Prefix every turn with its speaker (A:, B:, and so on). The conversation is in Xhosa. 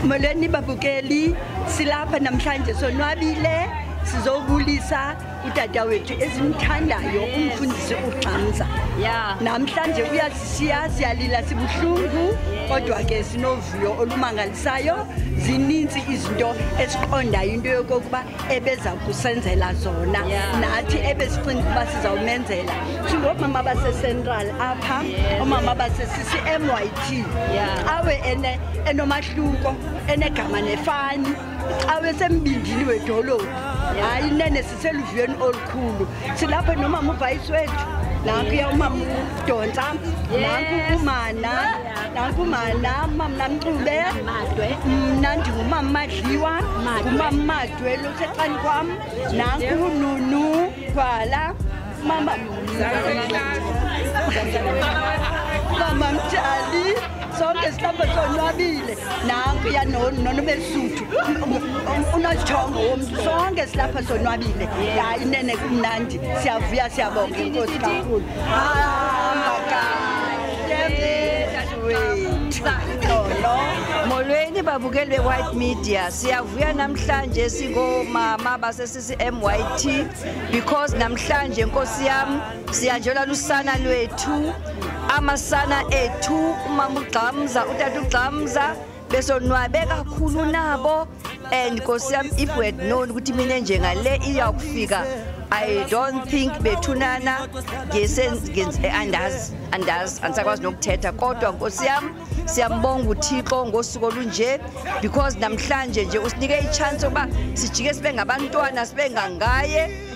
A: Molweni babukeli, silapha namhlanje sonwabile sizobulisa udada wethu esimthandayo umfundisi ugxamza yeah. namhlanje uyasishiya siyalila sibuhlungu kodwa ke sinovuyo olumangalisayo zininzi izinto esiqondayo into yokokuba ebeza kusenzela zona nathi ebesicinga ukuba sizawumenzela singoomama basecentral apha oomama basesisi myt awe enomahluko enegama nefani awe sembindini wedolophu hayi nene siseluviyweni olukhulu silapho nomama ubhayisi wethu nankuya umama udonsa nanku umana nakumana umamna mxube mnandi ngumama madliwa ngumama madwe losexani kwam nankununu gwala mama mama mjali sonke sihlamba sonwabile nanku yanonono besuthu unojongo womntu sonke silapha sonwabile hayi nene kumnandi siyavuya siyabonga inkosi kakhulu
B: molweni babukeli be-white media siyavuya namhlanje sikoomama basesisi-myt because namhlanje nkosi yam siyanjelwa lusana lwethu amasana ethu umama ugxamza utata ugxamza besonwabe kakhulu nabo and nkosi yam if we had known ukuthi mina njengale iyakufika i don't think bethunana andazi andazi andisakwazi nokuthetha kodwa nkosi yam siyambonga uthixo ngosuku olunje because namhlanje nje usinike itshansi yokuba sijike sibe ngabantwana sibe ngangaye